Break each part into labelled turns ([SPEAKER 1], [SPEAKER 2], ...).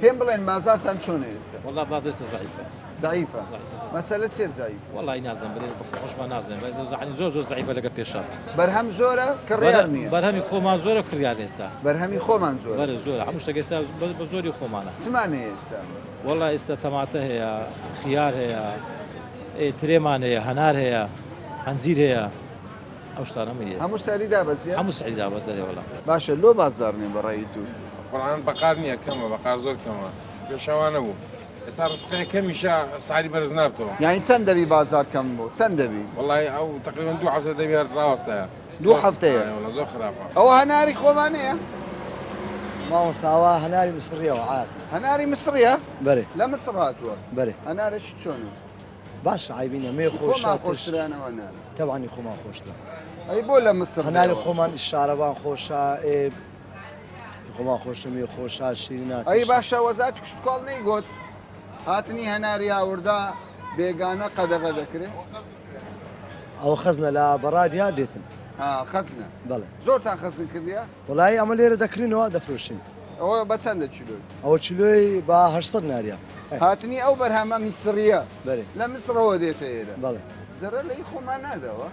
[SPEAKER 1] پێم بڵێن بازارتان چۆنە ئێستا وڵا بازرسە زعیفە
[SPEAKER 2] زعیفە
[SPEAKER 1] مەسەلە چێ زعیف وڵی نازم برێ
[SPEAKER 2] خۆشمان نازم زعانی زۆر زۆر زعیفە لەگە پێشە بەرهەم زۆرە
[SPEAKER 1] کڕیار نیە بەرهەمی خۆمان زۆرە
[SPEAKER 2] کڕیار ئێستا بەرهەمی خۆمان زۆر
[SPEAKER 1] بەرە زۆر هەموو شتەگەستا
[SPEAKER 2] بە زۆری خۆمانە چمانە ئێستا
[SPEAKER 1] وڵا ئێستا
[SPEAKER 2] تەماتە هەیە خیار هەیە ترێمان هەیە هەنار هەیە هەنجیر هەیە ئەو شتانە مەیە. هەموو سعری دابەزیە؟
[SPEAKER 1] هەموو سعری دابەزە ئەرێ
[SPEAKER 2] وەڵا. باشە لۆ بازاڕ
[SPEAKER 1] نیە بە ڕای تو؟ قورعان بەقار
[SPEAKER 3] نیە کەمە بەقار زۆر کەمە پێشا وا نەبوو ئێستا ڕزقێ کەمیشە سعری بەرز نابتەوە. یانی چەند دەبی بازار
[SPEAKER 1] کەم بو چەند دەبی؟ وەڵای ئەو تەقریبەن
[SPEAKER 3] دوو هەفتە دەبی هەر ڕاوەستایە. دوو هەفتەیە؟ ئەرێ
[SPEAKER 1] وەڵا زۆر خراپە.
[SPEAKER 3] ئەوە هەناری خۆمانەیە؟
[SPEAKER 4] مامۆستا ئەوە هەناری مسڕیە وە عادە. هەناری مسڕیە؟
[SPEAKER 1] بەرێ. لە مسڕ
[SPEAKER 4] هاتووە؟
[SPEAKER 1] بەرێ. هەنارەکی
[SPEAKER 4] چۆنە؟
[SPEAKER 1] باشە عیبی
[SPEAKER 4] نیە مێ خۆ خۆمان شاتر خۆشترانەوە
[SPEAKER 1] نانە تەوانی خۆمان خۆشترە
[SPEAKER 4] ئەی بۆ لە
[SPEAKER 1] مسر هەناری دێوە؟ خۆمان شارەوان
[SPEAKER 4] خۆشە ئێ خۆمان خۆشە مێ خۆشە شیرینە ئەی باشە وەزات
[SPEAKER 1] کوشتکۆڵ نەیگوت هاتنی هەناری هاوردا بێگانە قەدەغە دەکرێت
[SPEAKER 4] ئەو خەزنە لە بەڕاد یار دێتن ها خەزنە
[SPEAKER 1] بەڵێ زۆرتان
[SPEAKER 4] خەزن کردیە
[SPEAKER 1] وەڵایی ئەمە لێرە
[SPEAKER 4] دەکڕینەوە دەفرۆشین. ئەوە بە چەندە
[SPEAKER 1] کیلۆی؟ ئەوە کیلۆی
[SPEAKER 4] بە هەشت سەد ناریە. هاتنی ئەو
[SPEAKER 1] بەرهەمە میسڕییە بەرێ لە میسڕەوە
[SPEAKER 4] دێتە
[SPEAKER 1] ئێرە بەڵێ زەرەر لە ئی
[SPEAKER 4] خۆمان
[SPEAKER 1] ناداوە؟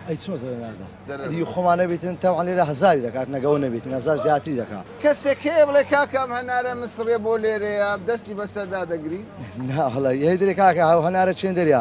[SPEAKER 1] ئەی چۆن زەرەر
[SPEAKER 4] نادا؟ زەرەر ئەدی خۆمان نەبیتن تەوان لێرە هەزاری دەکات نەک ئەوە نەبیتن هەزار زیاتری دەکا. کەسێک هەیە بڵێ
[SPEAKER 1] کاکە ئەم هەنارە میسڕیە بۆ لێرەیە دەستی بەسەردا دەگری؟ نا وەڵایی هەی
[SPEAKER 4] درێ کاکە ئەو هەنارە چێندەریە؟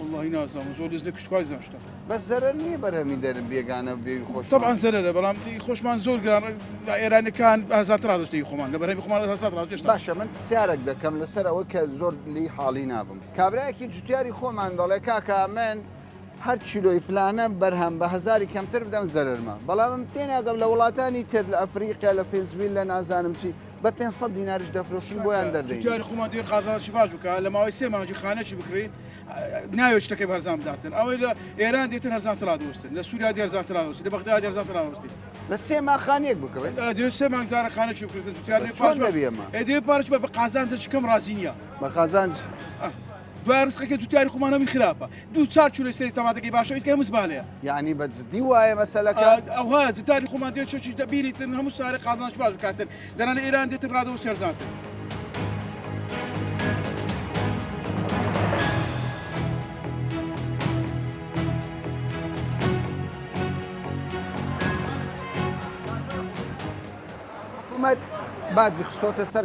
[SPEAKER 1] وەڵاهی
[SPEAKER 5] نازانم زۆر دەست لە کوشتکوای زان شتە بەس زەرەر نییە
[SPEAKER 1] بەرەمی دەرم بێگانە و بێوی خۆش طبعا زەرەرە بەڵام ئی
[SPEAKER 5] خۆشمان زۆر گران لە ئێرانەکان ئازاد ڕادشتی خۆمان لە بەرەمی خۆمان ئازاد ڕادشت باشە من پرسیارێک
[SPEAKER 1] دەکەم لەسەر ئەوە کە زۆر لی حاڵی نابم کابراایەکی جوتیاری خۆمان دەڵێ کاکە من هەر چیلۆی فلانە بەرهەم بە هزاری کەمتر بدەم زەرمە بەڵام تێناگەم لە وڵاتانی تر لە ئەفریقیا لە فێنسویل لە نازانم چی بە پێ سە دیناریش دەفرۆشن بۆیان دەردیاری خۆمان دێ قازانچی
[SPEAKER 5] باش بکە لە ماوەی سێ مانجی خانەکی بکری ناوێ شتەکە بەرزان بداتن ئەوەی لە ئێران دێتن هەرزان ترا دۆستن لە سووریا دێرزان ترا دۆستی لە بەغدا دێرزان ترا دۆستی لە سێ ماخانێک
[SPEAKER 1] بکڕێت دێ سێ مانگزارە
[SPEAKER 5] خانەکی بکردن جوتیار
[SPEAKER 1] دێ پارچ بە
[SPEAKER 5] قازانجە چکەم ڕازی نییە بە قازانج
[SPEAKER 1] دوای
[SPEAKER 5] ڕزقەکەی تو تاری خومانە وی خراپە دوو چار چو لەسەری تەماتەکەی باشە ئیتکە هەموو زبالەیە یعنی بە جدی
[SPEAKER 1] وایە مەسەلەکە ئەوها جتاری
[SPEAKER 5] خومان دێ چۆچی دەبیریتن هەموو سارە قازانج باش بکاتن دەرانە ئێران دێتن ڕادە و سێرزانتن. حکومەت باجی
[SPEAKER 1] خستۆتە سەر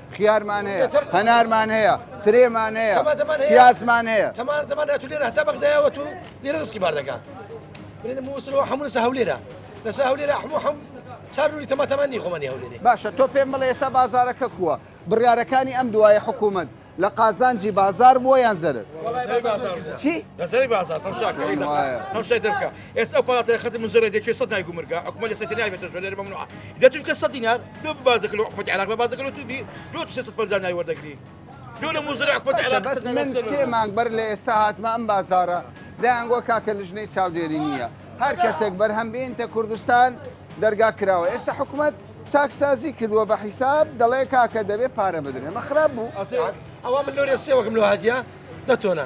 [SPEAKER 1] خیارمان هەیە، هەنارمان هەیە، ترێمان هەیە، پیازمان هەیە.
[SPEAKER 6] باشە تۆ پێم بڵێ ئێستا
[SPEAKER 1] بازارەکە کووە؟ بڕیارەکانی ئەم دوایە حکوومەت لە قازانجی بازار بووە یان زەرەر؟
[SPEAKER 7] ئێستا ئەو پاڵاتە خەتم من زۆرە دەچێت سەد نای گومرگا حکومە لە سەتەنای بێتە زۆلێر مەمنوعە دە تورکە سەد دینار لۆ بازەکە لۆ حکومەتی عراق بە بازەکە لۆ توبی لۆ سێ سەد پەنجا نای وەردەگری لۆ لە موزرە حکومەتی باشە عراق بەس سەد من نای سێ مانگ
[SPEAKER 1] بەر لە ئێستا هاتمە ئەم بازارە دایانگووە کاکە لژنەی چاودێری نییە هەر کەسێک بەرهەم بینتە کوردستان دەرگا کراوە ئێستا حکومەت چاکسازی کردووە بە حیساب دەڵێ کاکە دەبێ پارە بدرێ مە خراپ بوو. ئەوە من لۆرێ
[SPEAKER 6] سێوەکم لۆ هاتیە. دە تۆنە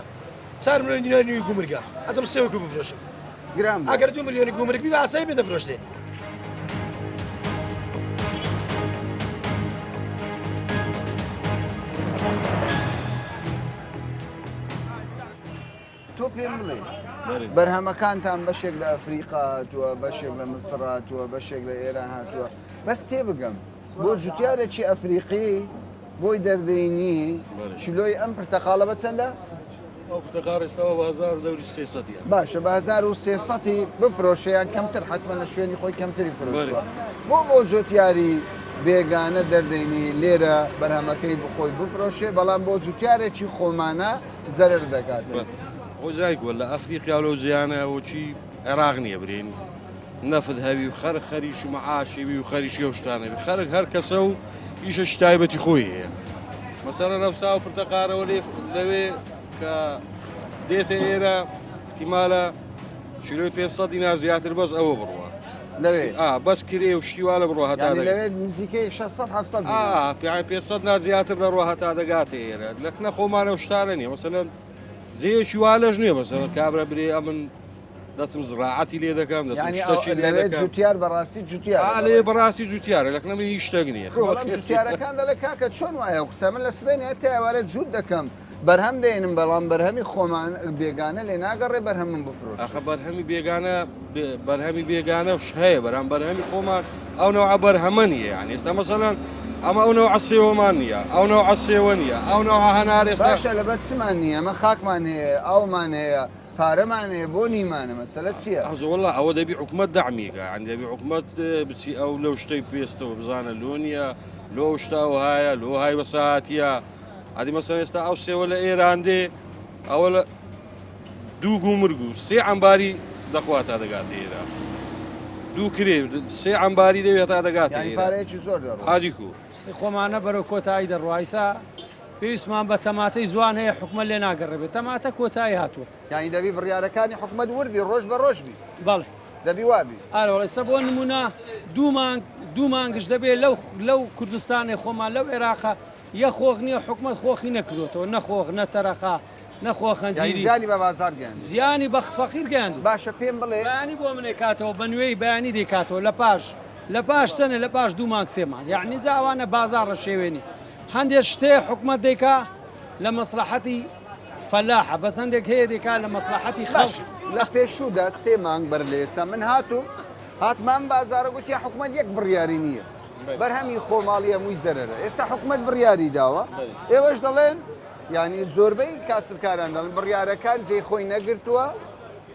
[SPEAKER 6] چار ملیۆن دیناری نوی گومرگە ئەزم سێ وەکو بفرۆشم گرام ئەگەر دو
[SPEAKER 1] ملیۆنی گومرگ
[SPEAKER 6] بی باسایی بێ دەفرۆشتێ
[SPEAKER 1] تۆ پێم بڵێ بەرهەمەکانتان بەشێک لە ئەفریقا هاتووە بەشێک لە مسڕ هاتووە بەشێک لە ئێران هاتووە بەس تێ بگەم بۆ جوتیارێکی ئەفریقی بۆی دەردەینی کیلۆی ئەم پرتەقاڵە بە چەندە؟ ئەو پرتەقاڵ
[SPEAKER 8] ئێستاوە بە هەزار و دەوری سێ سەدی هەن. باشە بە هەزار
[SPEAKER 1] و سێ سەدی بفرۆشیان کەمتر حتممە لە شوێنی خۆی کەمتری فرۆشوە بۆ بۆ جوتیاری بێگانە دەردەینی لێرە بەرهەمەکەی بخۆی بفرۆشێ بەڵام بۆ جوتیارێکی خۆمانە زەرر دەکات. وەزای
[SPEAKER 8] گۆل لە ئەفریقیا و لەو جیانە وەکی عێراق نییە برین. نەفت هەوی و خەرک خەریکی معاشی بی و خەریکی ئەو شتانە بی خەرک هەر کەسە و ئیشە شتایبەتی خۆی هەیە مەسەرە نەفسا و پرتەقارەوە لەوێ کە دێتە ئێرە تیمالە چیرۆی پێ سە دینار زیاتر بەس ئەوە بڕوە لەوێ
[SPEAKER 1] بەس کرێ و
[SPEAKER 8] شتیوا لە بڕۆ هەتا
[SPEAKER 1] نزیکەی 600 پێ نار
[SPEAKER 8] زیاتر دەڕوە هەتا دەگاتە ئێرە لەکنە خۆمانە و شتانە نیە مەسەن جێشی وا لەژ نیە بەسەوە کابرا برێ ئەمن دەچم زڕاعەتی لێ دەکەم دەچم یعنی شتەکی لێ لەوێ دەکەم
[SPEAKER 1] جوتیار بەڕاستی جوتیار آ لێ بەڕاستی جوتیارە
[SPEAKER 8] لەکنە من هیچ شتێک نییە خۆ بەڵام خێر. جوتیارەکان دەڵێ
[SPEAKER 1] کاکە چۆن وایە و قسە من لە سبەینێ هەتا ئێوارە جووت دەکەم بەرهەم دێنم بەڵام بەرهەمی خۆمان بێگانە لێ ناگەڕێ بەرهەمم بفرۆش ئەخە بەرهەمی بێگانە
[SPEAKER 8] بێ- بەرهەمی بێگانەش هەیە بەرام بەرهەمی خۆمان ئەو نەوە بەرهەمە نیە یان ئێستا مەسەلەن ئەمە ئەو نەوە عسێوەمان نییە ئەو نەوە عسێوە نیە ئەو نەوە هەنار ئێستا باشە لەبەر چمان نییە
[SPEAKER 1] ئەمە خاکمان هەیە ئاومان هەیە پارەمان هەیە بۆ نیمانە مەسەلە چیە؟ ئازۆ وەڵا ئەوە دەبی
[SPEAKER 8] حکومەت دەعمیکە ئەن دەبی حکومەت بچی ئەو لەو شتەی پێستەوە بزانە لۆ نییە لۆ شتاو هایە لۆ های وەسەهاتە ئەدی مەسەن ئێستا ئەو سێوە لە ئێران دێ ئەوە لە دوو گو مرگ و سێ ئەمباری دەخوا تا دەگات ئێرە دوو کرێ سێ ئەمباری دەوێت تا دەگات
[SPEAKER 1] هادیکو
[SPEAKER 8] خۆمانە بەرەو
[SPEAKER 9] کۆتایی دەڕایسا پێویستمان بە تەماتەی جوان هەیە حکومەت لێ ناگەڕێبێت تەماتە کۆتایی هاتووە. یانی دەبی بڕیارەکانی
[SPEAKER 1] حکومەت ورد بی ڕۆژ بە ڕۆژ بی. بەڵێ. دەبی
[SPEAKER 9] وا بی.
[SPEAKER 1] ئەرێ وەڵا ئیستا بۆ نموونە
[SPEAKER 9] دوو مانگ دوو مانگیش دەبێ لەو لەو کوردستانێ خۆمان لەو ئێراقە یە خۆخ نییە حکومەت خۆخی نەکردۆتەوە نە خۆخ نە تەرەقە نە خۆخەنجیری. زیانی بە بازاڕ گەیاندووە.
[SPEAKER 1] زیانی بە فەقیر
[SPEAKER 9] گەیاندووە. باشە پێم بڵێ. بەیانی
[SPEAKER 1] بۆ منێ کاتەوە
[SPEAKER 9] بە نوێی بەیانی دەی کاتەوە لە پاش لە پاش چەنێ لە پاش دوو مانگ سێ مانگ یانی جا ئەوانە بازاڕە شێوێنی هەندێ شتێ حکومەت دەیکا لە مەسلەحەتی فەلاحە بەس هەندێک هەیە دەیکا لە مەسلەحەتی خەڵک باش لە پێشوودا
[SPEAKER 1] سێ مانگ بەر لە ئێستا من هاتووم هاتمان بازارە گوتی حکومەت یەک بڕیاری نییە بەرهەمی خۆماڵی هەمووی زەرەرە ئێستا حکومەت بڕیاری داوە ئێوەش دەڵێن یعنی زۆربەی کاسبکاران دەڵێن بڕیارەکان جێی خۆی نەگرتووە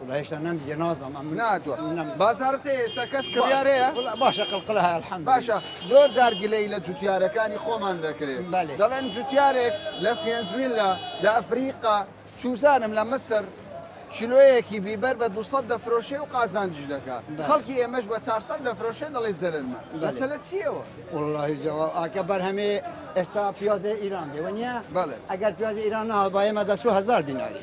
[SPEAKER 1] وەڵا هێشتا نەمدیە
[SPEAKER 4] نازانم ئەم نا تۆ نەم بازارت
[SPEAKER 1] هەیە ئێستا کەس کڕیار هەیە وەڵا باشە قلقلە هەیە
[SPEAKER 4] الحمد باشە زۆر جار
[SPEAKER 1] گلەی لە جوتیارەکانی خۆمان دەکرێت بەلێ دەڵێن جوتیارێک لە فێنزویلا لە ئەفریقا چوزانم لە مەسر کیلۆیەکی بیبەر بە 200 دەفرۆشێ و قازانجیش دەکا بەلێ خەڵکی ئێمەش بە 400 دەفرۆشێ دەڵێ زەرەرمە بەلێ مەسەلە چییەوە؟ وەڵاهی جواب
[SPEAKER 4] ئاکە بەرهەمێ ئێستا پیازێ ئیران دێ وەنیە بەلێ ئەگەر پیازێ
[SPEAKER 1] ئیران نەهات
[SPEAKER 4] با ئێمە دە چوو هەزار دیناری.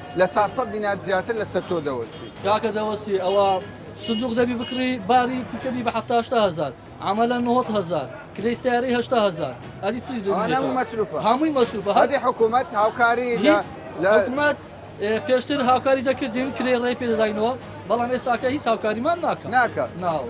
[SPEAKER 1] لە چار سەد دینار زیاتر لە سەر تۆ دەوەستی. کاکە دەوەستی
[SPEAKER 9] ئەوە سندوق دەبی بکڕی باری پیکەبی بە حەفتا هەشتا هەزار عەمەلە نۆهەت هەزار کرێی سیارەی هەشتا هەزار ئەدی چیش دەبی ئەوانە هەموو مەسروفە
[SPEAKER 1] هەمووی مەسروفە هەر هەدی
[SPEAKER 9] حکومەت
[SPEAKER 1] هاوکاری لە هیچ لە حکومەت
[SPEAKER 9] ئێ، پێشتر هاوکاری دەکردین کرێی ڕێی پێدەداینەوە بەڵام ئێستاکە هیچ هاوکاریمان ناکات ناکا ناوە.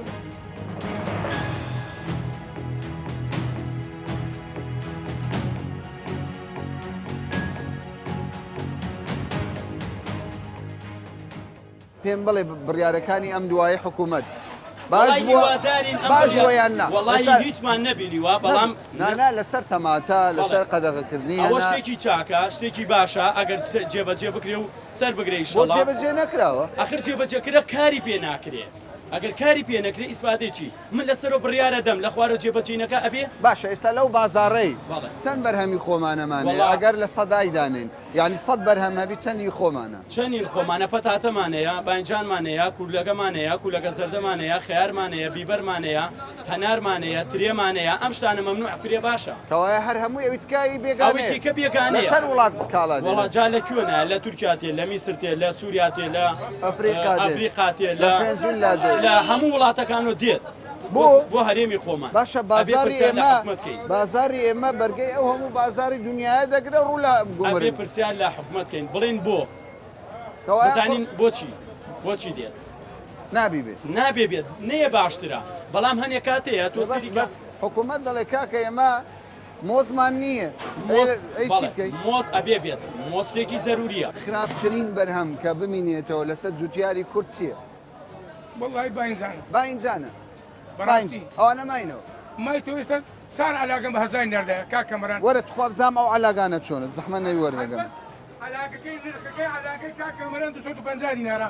[SPEAKER 1] پێم بڵێ بڕیارەکانی ئەم دوایە حکوومەت باش باش یان ناڵی هیچمان
[SPEAKER 10] نەبینیوە بەڵام نانا لەسەر
[SPEAKER 1] تەماتە لەسەر قەدەغەکردنی ئەوە شتێکی چاکە
[SPEAKER 10] شتێکی باشە ئەگەر جێبەجێ بکرێ و سەر بگرێ جێبەجێ نەکراوە
[SPEAKER 1] ئەخر جێبەجێکرە
[SPEAKER 10] کاری پێ ناکرێت ئەگەر کاری پێ نەکرێ ئیسپاتێکی من لە سەرۆ بڕیارە دەم لە خوارۆ جێ بە جێ نەکا ئەبێ. باشە ئێستا لەو
[SPEAKER 1] بازاڕەی چەند بەرهەمی خۆمانەمانێ وەڵا. ئەگەر لە سەدای دانێین یانی سەد بەرهەم هەبی چەندی خۆمانە؟ چەنی خۆمانە
[SPEAKER 10] پەتاتەمان هەیە بانجانمان هەیە کورلەگەمان هەیە کولەگە زەردەمان هەیە خەیارمان هەیە بیبەرمان هەیە هەنارمان هەیە ترێمان هەیە ئەم شتانە مەمنوع کرێ باشە. کەوایە هەر
[SPEAKER 1] هەمووی ئەوی
[SPEAKER 10] تکا ی ئەوی بێگانەیە. ئەفریقا دێ لە هەموو وڵاتەکان و دێت بۆ بۆ هەرێمی خۆمان باشە بازاری
[SPEAKER 1] ئێمە بازاری ئێمە بەرگەی ئەو هەموو بازاری دنیاە دەگرە ڕوو لە گومری پرسیار لە
[SPEAKER 10] حکومتکەین بڵین بۆ زانین بۆچی بۆچی دێت نابی
[SPEAKER 1] بێت نابێ بێت نەیە
[SPEAKER 10] باشترە بەڵام هەنێ کاتەیە تۆ بەس حکوومەت
[SPEAKER 1] دەڵێ کاکە ئێمە مۆزمان نییە مۆز ئەی چی بەڵێ بکەین؟
[SPEAKER 10] مۆز ئەبێ بێت مۆز شتێکی زەروورییە. خراپترین بەرهەم
[SPEAKER 1] کە بمینێتەوە لەسەر جوتیاری کورد چییە؟ وەڵڵاهی
[SPEAKER 5] باینجانە باینجانە
[SPEAKER 1] بەڕاستی باینج
[SPEAKER 5] ئەوانە ماینەوە
[SPEAKER 1] مای تۆ ئێستا
[SPEAKER 5] چار عەلاگەم بە هەزاری ناردایە کاک کامەران وەرە تخوا بزانم ئەو
[SPEAKER 1] عەلاگانە چۆنە زەحمەت نەبی وەردەگەم. هەربەس عەلاگەکەی
[SPEAKER 5] نرخەکەی عەلاگەی کاک کامەران دوو سەد و پەنجا دینارە.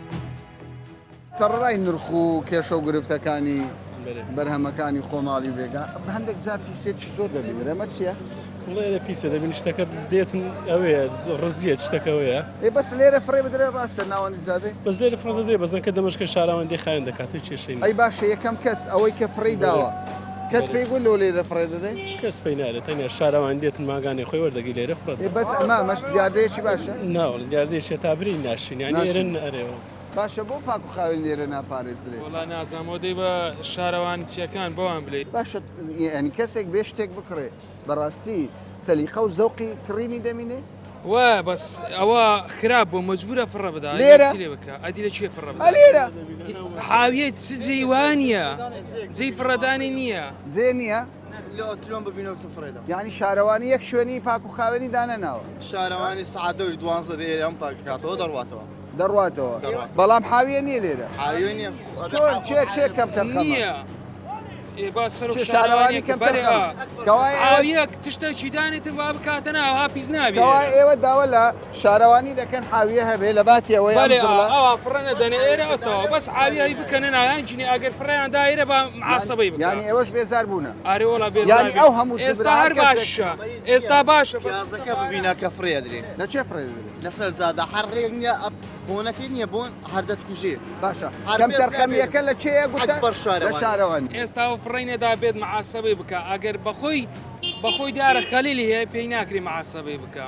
[SPEAKER 1] سەڕەرای نرخ و کێشە و گرفتەکانی بەرهەمەکانی خۆماڵی بێگا هەندێک جار پیسێکی زۆر دەبین رەمە چییە؟ لێرە پیسە
[SPEAKER 11] دەبین شتەکە دێتن ئەوێ ڕزیە شتەکەەوەیە ئێ بەس لێرە فڕێ
[SPEAKER 1] بدرێ ڕاستە ناوەندی جادێ بەس لێرە فڕ دەدرێ
[SPEAKER 11] بەزنکە دەمەشکە شاراوەندی خایەن دەکات و کێشەی ئەی باشە یەکەم کەس
[SPEAKER 1] ئەوەی کە فڕی داوە کەس پێی گوت لۆ لێرە فڕێ دەدەین؟ کەس پێی نایڵێت، تەنیا
[SPEAKER 11] شارەوانی دێتن ماگانێ خۆی وەردەگری لێرە فڕێ دەدەن. ئێ بەس ئەمە ئەمەش
[SPEAKER 1] دیاردەیەکی باشە؟ نا وەڵا دیاردەیەکی هەتا
[SPEAKER 11] برێی ناشرین، یانی ئێرە ناشرین. ئەرێ وەڵا. باشە بۆ پاک و
[SPEAKER 1] خاوێن لێرە ناپارێزرێ؟ وەڵا نازانم، ئەوە دەی
[SPEAKER 12] بە شارەوانییەکان بەوان بلێی. باشە یانی
[SPEAKER 1] کەسێک بێ شتێک بکڕێ؟ بەڕاستی سەلیقە و زەوقی کڕینی دەمینێ وا بەس
[SPEAKER 12] ئەوە خراپ بۆ مەجبورە فڕە بدا لێرە لێ بکە ئەدی
[SPEAKER 1] لە چێ
[SPEAKER 12] فڕە بدا لێرە
[SPEAKER 1] حاویەت
[SPEAKER 12] چ جێوانە جێی فڕەدانی نییە جێ نییە
[SPEAKER 1] لۆتلۆم
[SPEAKER 13] ببینەوە چ فڕێدا یعنی شارەوانی یەک
[SPEAKER 1] شوێنی پاک و خاوێنی دانەناوە شارەوانی
[SPEAKER 13] سعادەوری دوانزە دێ ئەم پاکاتەوە دەڕواتەوە دەڕواتەوە
[SPEAKER 1] بەڵام حاویە نیە لێرە
[SPEAKER 13] چێ
[SPEAKER 1] کەم تەرخەمیە
[SPEAKER 12] شارەوانی کەم
[SPEAKER 1] تەرخەوەیەک
[SPEAKER 12] تشتێکی دانێت وا بکاتە ناوها پیس نابیەوە ئێوە داوە لە
[SPEAKER 1] شارەوانی دەکەن حاویە هەبێ لە باتیەوە فڕەنە
[SPEAKER 12] دەنێ ئێرەەوە بەس حاویایی بکەنە ناویان جنی ئەگەر فڕیان دایرە بە عسەبەی بکانی ئێوەش بێزار بوون
[SPEAKER 1] ئارێ وڵا بێزار
[SPEAKER 12] ئەو هەموو
[SPEAKER 1] ئێستا هەر باشە
[SPEAKER 12] ئێستا باشە بینە کە
[SPEAKER 13] فڕێدرێ نەچێ فڕێدرێ
[SPEAKER 1] لەسەر جادە هەر
[SPEAKER 13] ڕێک نیە ئەپ بۆنەکەی نیە بۆن هەر دەتکوژێ باشە هەر کەم
[SPEAKER 1] تەرخەمیەکە لە چێە گوتە بەر شارە شارەوانی ئێستا و فڕینە دا
[SPEAKER 12] بێت معاسەبەی بکە ئەگەر بەخۆی بەخۆی دیارە خەلیلی هەیە پێی ناکری معاسەبەی بکە.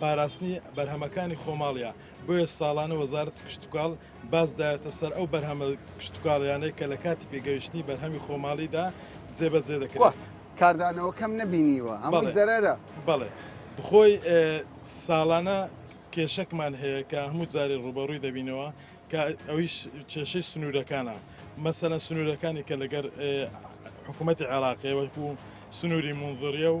[SPEAKER 11] پاراستنی بەرهەمەکانی خۆماڵە بۆیە ساڵانە وەزارت کشتتوکاڵ بازدایەتە سەر ئەو بەرهەمە کشتتوکاڵیانەی کە لە کاتی پێگەیشتنی بەرهەمی خۆماڵیدا جێبەجێ دەکرێت کاردانەوە کەم
[SPEAKER 1] نەبینیوە ئەمە زەرەرە بەڵێ
[SPEAKER 11] بخۆی ساڵانە کێشەکمان هەیە کە هەموو جارێ ڕوبەڕووی دەبینەوە کە ئەویش کێشەی سنوورەکانە مەسەە سنوورەکانی کە لەگەر حکوومەتتی عێراقی وەکو سنووری منظریە و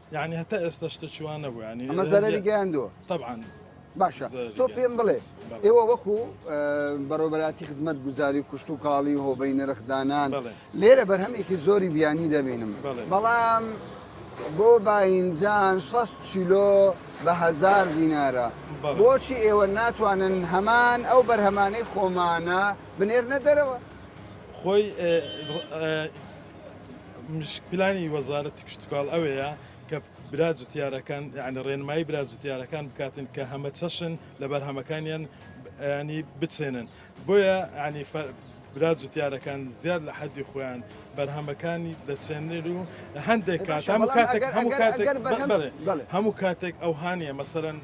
[SPEAKER 1] یانی هەتا ئێستا
[SPEAKER 11] شتەکی وا نەبوو یانی ئەمە زەرەری گەیاندووە
[SPEAKER 1] طبعا
[SPEAKER 11] باشە
[SPEAKER 1] تۆ پێم بڵێ ئێوە وەکو بەڕۆبەراتی خزمەت گوزاری کوشت و کاڵی و هۆبەی نرخدانان لێرە بەرهەمێکی زۆری بیانی دەبینم بەڵام بۆ باینجان 6 کیلۆ بە هزار دینارە بۆچی ئێوە ناتوانن هەمان ئەو بەرهەمانەی خۆمانە بنێرنە دەرەوە خۆی
[SPEAKER 11] پلانی وەزارەتی کشتتوکاڵ ئەوەیە کە برا جوتیارەکان یعنی ڕێنمایی برا جوتیارەکان بکاتن کە هەمە چەشن لە بەرهەمەکانیان ینی بچێنن بۆیە ینی برا جوتیارەکان زیاد لە حەدی خۆیان بەرهەمەکانی دەچێنێت و هەندێک کات هەموو کاتێک هەموو کاتێک هەموو کاتێک ئەو هاانە مەسەرەن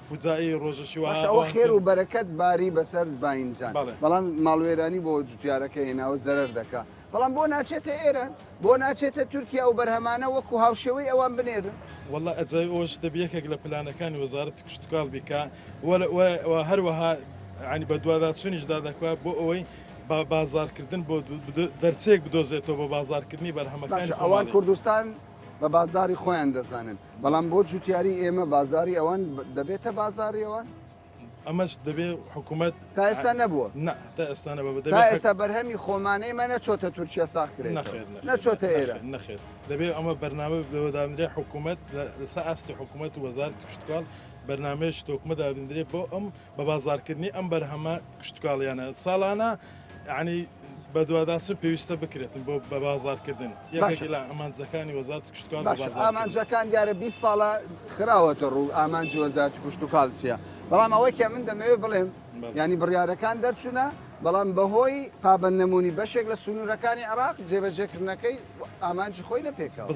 [SPEAKER 11] فوجائەی ڕۆژە شیوا باشە ئەوە ئەوان خێر کرد. و بەرەکەت
[SPEAKER 1] باری بەسەر باینجان بەڵێ. بەڵام ماڵوێرانی بۆ جوتیارەکە هێناوە زەرەر دەکا بەڵام بۆ ناچێتە ئێران بۆ ناچێتە تورکیا و بەرهەمانە وەکو هاوشێوەی ئەوان بنێرن واللە ئەجای ئەوەش
[SPEAKER 11] دەبی یەکێک لە پلانەکانی وەزارەتی کشتوکاڵ بی کە وەلە- وە- وە هەروەها یانی بەدواداچوونیشدا دەکا بۆ ئەوەی با- بازاڕکردن بۆ دو- بدو- دەرچەیەک بدۆزێتەوە بۆ بازاڕکردنی بەرهەمەکانی باشە ئەوان خۆماڵی. کوردستان
[SPEAKER 1] بە بازاری خۆیان دەزانن بەڵام بۆ جوتیاری ئێمە بازاری ئەوان دەبێتە بازاری ئەوان ئەمەش
[SPEAKER 11] دەبێ حکوومەت تا ئێستا نەبووە
[SPEAKER 1] تا ئێستانە بە
[SPEAKER 11] تا ئێستا بەرهەمی
[SPEAKER 1] خۆمانەی مە نەچۆتە تورکیا ساخکرێت نەخێت نەچۆتە ئێرە نەخێت دەبێ
[SPEAKER 11] ئەمە بەرنامە بەوەدانرێ حکوومەت لەسە ئاستی حکوومەت وەزار کوشتکڵ بەرنمەیەش تۆکمە دابدرێت بۆ ئەم بە بازاڕکردنی ئەم بەرهەمە کشتوکاڵیانە ساڵانە عنی بەدواداچن پێویستە بکرێتن بۆ بە بازارکردن یەکێکلا ئەمانجەکانی وەزات کوشتکار ئامانجەکان دیارە
[SPEAKER 1] 20 ساڵە خراوەتە ڕوو ئامانجی وەزار کوشت و کالسیە بەڵام ئەوەکە من دەمەوێت بڵێم ینی بڕارەکان دەرچوونە بەڵام بەهۆی پابند نمونی بەشێک لە سنوورەکانی عراق جێبەجێکردنەکەی ئامانجی خۆی لە پێکەوە.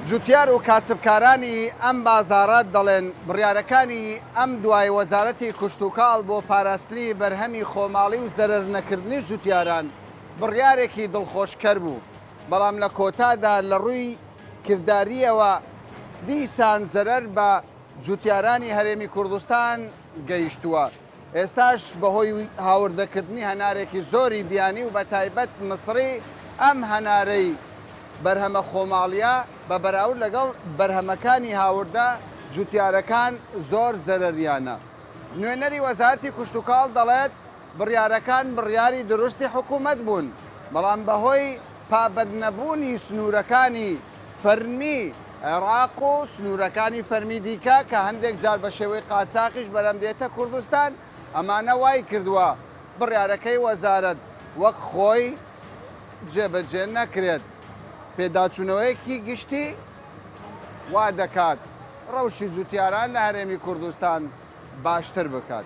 [SPEAKER 1] جوتیار و کاسبکارانی ئەم بازاڕە دەڵێن، بڕیارەکانی ئەم دوای وەزارەتی کشتوکاڵ بۆ پاراستنی بەرهەمی خۆماڵی و زەرەرنەکردنی جوتیاران بڕیارێکی دڵخۆشکەر بوو، بەڵام لە کۆتادا لە ڕووی کردارییەوە دیسان زەرەر بە جووتیارانی هەرێمی کوردستان گەیشتووە، ئێستاش بەهۆی هاوردەکردنی هەنارێکی زۆری بیانی و بەتایبەت مسڕی ئەم هەنارەی بەرهەمە خۆماڵییە بە بەراورد لەگەڵ بەرهەمەکانی هاوردە جووتیارەکان زۆر زەرەریانە. نوێنەری وەزارەتی کشتوکاڵ دەڵێت، بڕیارەکان بڕیاری دروستی حکومەت بوون، بەڵام بەهۆی پابەندنەبوونی سنوورەکانی فەرمی عێراق و سنوورەکانی فەرمی دیکە کە هەندێک جار بە شێوەی قاچاخیش بەرەم دێتە کوردستان، ئەمانە وایکردووە بڕیارەکەی وەزارەت وەک خۆی جێبەجێ نەکرێت. پێداچوونەوەیەکی گشتی وادەکات ڕەوشی جووتیاران لە هەرێمی کوردستان باشتر بکات.